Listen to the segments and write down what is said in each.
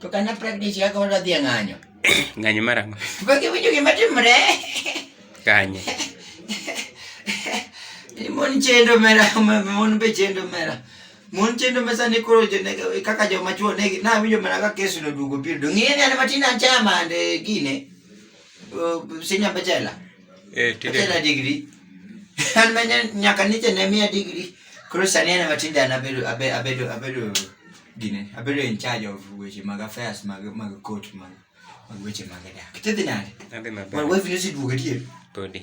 To kana practice yako wala dhia ng'anyo. Ng'anyo mara ng'o? Bagi winjo gima timre. Kanye. Ni mon chendo mera, mon be chendo mera. Mon chendo mesa ni koro jo ne kaka jo machuo ne na winjo mera ka kesu no dugo piro. Ng'e ni an matin an chama ande gine. sinya bachela eh bachela degree an manya nyaka niche ne mia degree koro sani an matinde an abedo abedo abedo gine abedo in charge of weche mag affairs mag mag court mag mag weche mag dak tidhi nade adhi maber well wewe ni siduogo adier podi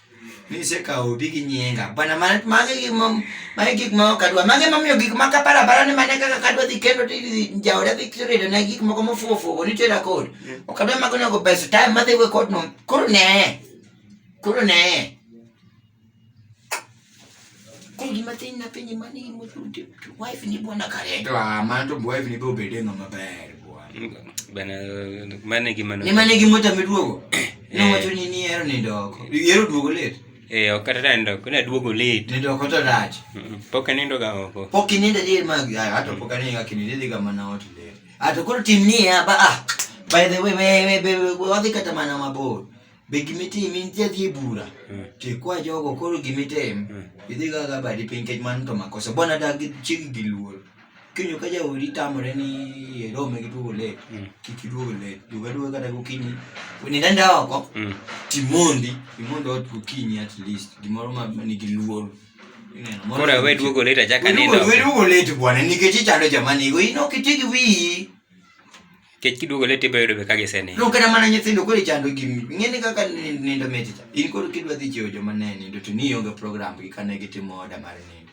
Ni se ka obi gi nyinga. Bwana ma ma gi ma ma gik ma ok adwa. Ma gi ma miyo gik ma ka para para ni mane kaka kadwa dhi kendo ti jaoda dhi kiri ne gik moko mo fuo fuo ni tera kod. Ok adwa ma kono go pesa time ma dhi we kod no. Koro ne. Koro ne. Kodi matin na penye mani mo wife ni bwana kare. To ama to wife ni bo bede ngama ber bwana. Bana mane gi mano. Ni mane gi mota midwogo. Ne wacho ni ni ero ni ndoko. Ero duogo let. Eh ok kata ndo kuna duogo let. Ni ndoko to rach. Pok anindo ga oko. Pok inindo dir mag ato pok anindo ga kininde diga mana ot let. Ato koro tim ni ya ba ah. By the way, we we we we wadhi kata mana mabor. Be gima itimo in ti adhi e bura? Mm. To ikwa jogo koro gima itim, Mm. idhi gaga badi piny nikech mano to makosa. Bona dag chig gi luor. Kinyo ka jaodi tamore ni irome gi duogo late, Mm. kik iduogo late. Duog aduoga kata gokinyi. Nind anda oko, Mm. timondi, imond ot gokinyi at least. Gimoro ma ma nigi luor. Ineno, mondo- Koro we duogo late achaka nindo. Wedugo late bwana nikech ichando joma nigo. In ok iti gi wiyi. Kech kiduogo leti ibiro yudo be ka gisenindo. Donge kata mana nyithindo koro ichando gi ng'eni kaka ni- nindo mit cha. In koro kidwa dhi chiewo joma ne nindo to ni ionge program gi kane gitimo order mar nindo.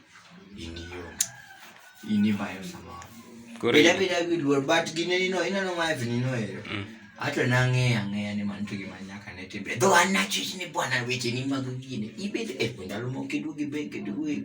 In ionge. In ibayo samoro. Koro Bila bila gi luor but gine ni no ineno ma hivi nino ero. Mm. Ato na ng'eya ng'eya ni man to gima nyaka ne timbe. Dho an na chich ni bwana weche ni mag gine. Ibed e ndalo moko kiduogi be kiduogi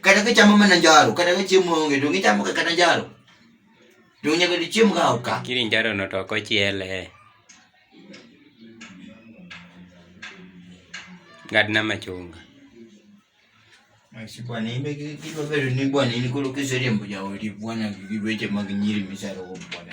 kata gichamo mana njaro kata ka chiemo onge to gichamo ka kata njaro to nyaka dichiem ka oka kiri njaro no to ok ochiele ngadna machunga bwana imbe kidwa bedo ni bwana in koro kiseriembo jaodi bwana gi weche mag nyiri misarogo bwana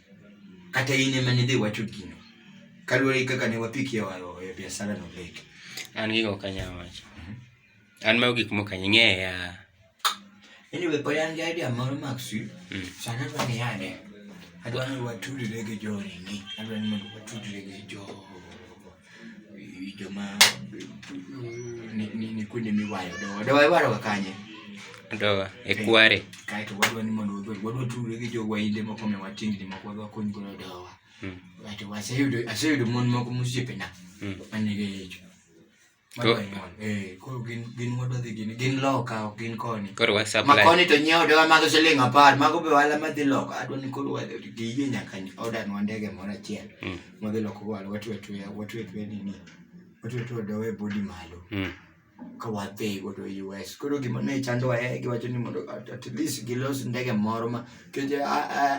kata in ema nidhi wacho gino kaluwore gi kaka ne wapiki e wa- e biasara no lek an gigo ok anyal wacho an mago gik mok ang'eya anyway pod an gi idea moro maxi Mm. sana adwa ni yane adwa ni watudre gi joringi adwa ni mondo watudre gi jo Winjo ma ni ni ni kuonde miwayo dowa. Dowa iwaroga kanye? Dowa e kware. Kae to wadwa ni mondo wadwa wadwa tudore gi jowa inde moko ma watingni moko wadwa kony godo dowa. Mm. Kae to waseyudo aseyudo mon moko mosiepena Mm. manigi ich. Ko- Wadwa nyuol. Eh, koro gin gin wadwa dhi gin gin loka ok gin koni. Koro wa Ma supply. koni to nyiewo dowa mag siling apar mago be wala madhi loka adwa ni koro wadhi giyie nyaka odanwa ndege moro achiel. Mm. wadhi loko wal watwe atweya watwe atweya nini watwe atweya dowe body malo Mm. ka wadhi godo US koro gima ne chandowa e giwacho ni mondo at at least gilos ndege moro ma keje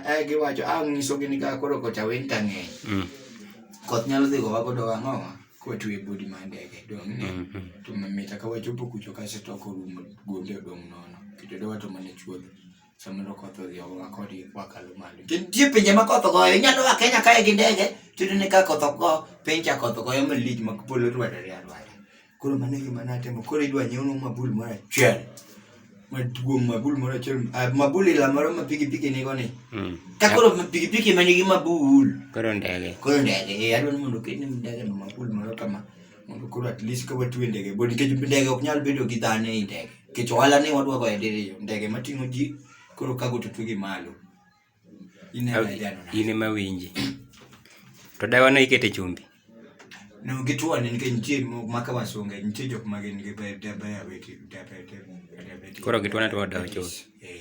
e giwacho a ng'isogi ni ka koro kocha winta ng'eny Mm. koth nyalo dhi gowa godo wang'owa kwatwe bodi ma ndege dong' ne Mm. Mm. to mamita ka wachopo kucho kaseto korumo gonde odong' nono kito dowa to mana chuodho Samoro koth odhi ogowa kodi wakalo malo. To nitie pinje ma koth ogoyo, inyalo a Kenya kae gi ndege, to iyudo ni ka koth ok go, piny cha koth ogoyo malich ma polo rwadore arwada. Koro mano e gima natimo, koro idwa nyiewna mabul moro achiel maduong' mabul moro achiel, ah, mabul ila moro ma pikipiki nigo ni. Mm. Ka koro pikipiki ma nigi mabul, Koro ndege. koro ndege, eh, adwa ni mondo oketni ndege no mabul moro kama. mondo koro at least ka watue ndege bo nikech ndege ok nyal bedo gi dhano ei ndege nikech ohala ni wadwago e diriyo ndege mating'o ji koro kago to twe gi malo ineno idano na in ema winji to dawa no ikete chumbi no gituane nikech nitie mo- maka wasunge nitie jok ma gin gi be- de- diabetes- diabetes- diabetes. Koro gituane to wadawo chuth. Eh.